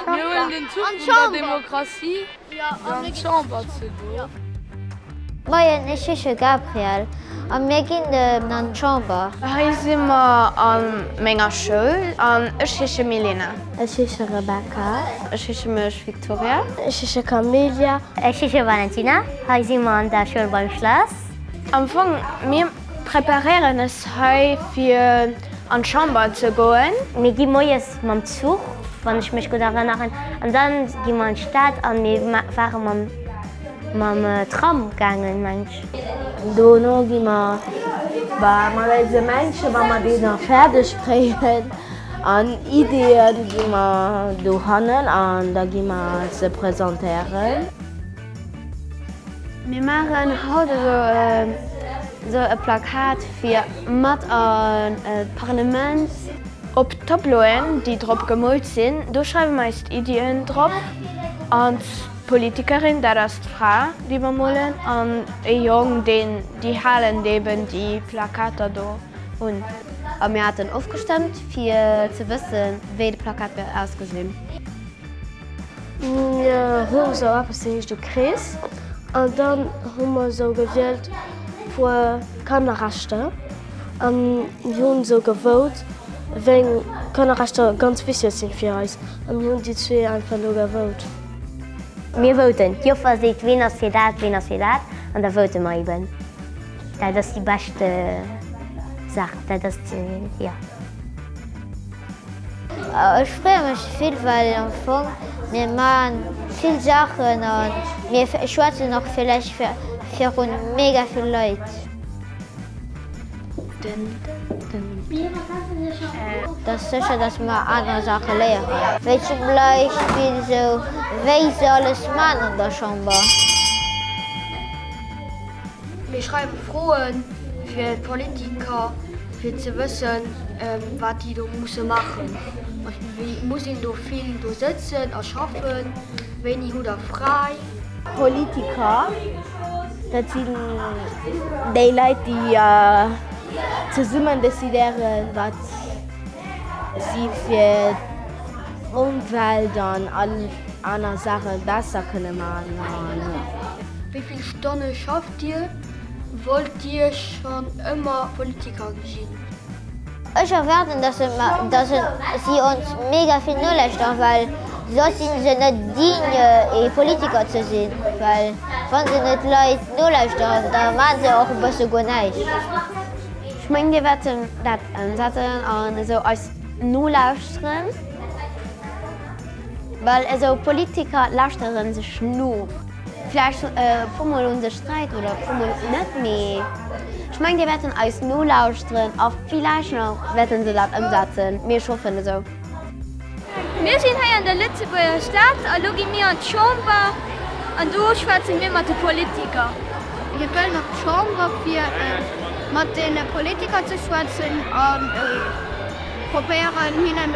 Mir huelen den Zuch vun der Demokratie, fir an d'Chamber ze goen. Moien, ech heesche Gabriel a mir ginn elo an d'Chamber. Hei si mer a menger Schoul an ech heesche Milena. Ech heesche Rebecca. Ech heesche mech Victoria. Ech heesche Camelia. Ech heesche Valentina. Hei si mer an der Schoul beim Schlass. Am Fong, mir. Preparéieren ës hei fir an Chamber ze goen. Mir gi moies mam Zuch, wann ech mech gutt erënneren, an dann gi mer an d'Stad an mir waren mam mam Tram gaangen meng ech. Dono gi mer mat eise Männchen, wa mer déi nach fäerdeg kréien, an Ideeën gi mer dohannen an da gi mer se presentéieren. Mir maachen haut esou e Plakat fir mat an d'Parlement. Op d'Tableauen, déi drop gemoolt sinn, do schreiwe mer eis Iddien drop. An d'Politikerin, dat ass d'Fra, déi mer molen, an e Jong, deen, déi halen eben déi Plakater do un. A mir haten ofgestëmmt, fir ze wëssen, wéi de Plakat wäert ausgesinn. Mir hu sou eppes dee heescht e Krees an dann hu mer sou gewielt puer Kannerrechter an mir hunn sou gevote wéng Kannerrechter ganz wichteg sinn fir eis an mir hunn déi zwee einfach elo gevote. Mir voten, d'Joffer seet ween ass fir dat, ween ass fir dat an da vote mer eben. Dat ass déi bescht Saach, dat ass jo. Ech freeë mech vill, well am Fong mir man vill Saachen a mir schwätzen och villäicht virun mega vill Leit. Dat ass sécher, datt mer aner Saache léieren, wéi zum Beispill esou wéi se alles man an der Chamber. Mir schreiwe Froe fir d'Politiker, fir ze wëssen, wat déi do musse maachen. Muss een do vill do sëtzen a schaffen? Wéini hutt Der fräi? Politiker, dat sinn déi Leit, déi zesummen decidéieren, wat si fir d'Ëmwelt an. Aner Saache besser kënne maachen. Wéi vill Stonne schafft Dir? Wollt Dir schonn ëmmer Politiker ginn? Ech erwaarden, dass si ons mega vill nolauschteren, well soss si se net digne, ee Politiker ze sinn. Well wa se net d'Leit nolauschteren, da maache se och e bësse guer näischt. Ech mengen, Dir wäert dat ëmsetzen an esou eis nolauschteren. Well esou Politiker lauschtere sech no. Vläicht e puermol un sech Sträit oder e puermol net, mee ech mengen, déi wäerten eis nolauschteren a vläicht nach wäerte se dat ëmsetzen. Mee ech hoffen esou. Mir sinn hei an der Lëtzebuerger Stad a lo gi mir an d'Chamber an do schwätze mir mat de Politiker. Mir wëllen op d'Chamber fir mat deene Politiker ze schwätzen a probéieren hinnen.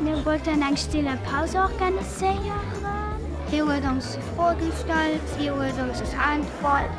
Mir wollten eng stille Paus organiséieren. Hie huet ons Froe gestallt, si huet ons geäntwert.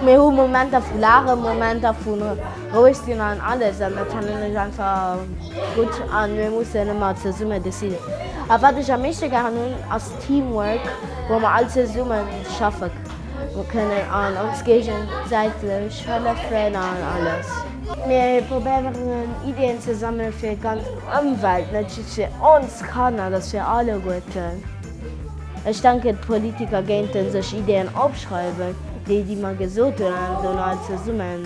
Mir hu Momenter vu laachen, Momenter vu roueg sinn an alles an dat fannen ech einfach gutt a mir mussen ëmmer zesumme dee sinn. A wat ech am meeschte gären hunn ass Teamwork, wou mer all zesumme schaffe. Mir kënnen an ons géigesäitlech hëllefen an alles. Mir probéieren Ideen ze sammelen fir ganz Ëmwelt, net just fir ons Kanner, dass fir alleguerten. Ech denken d'Politiker géinten sech Ideen opschreiwen, déi déi mer gesot hunn an dono all zesummen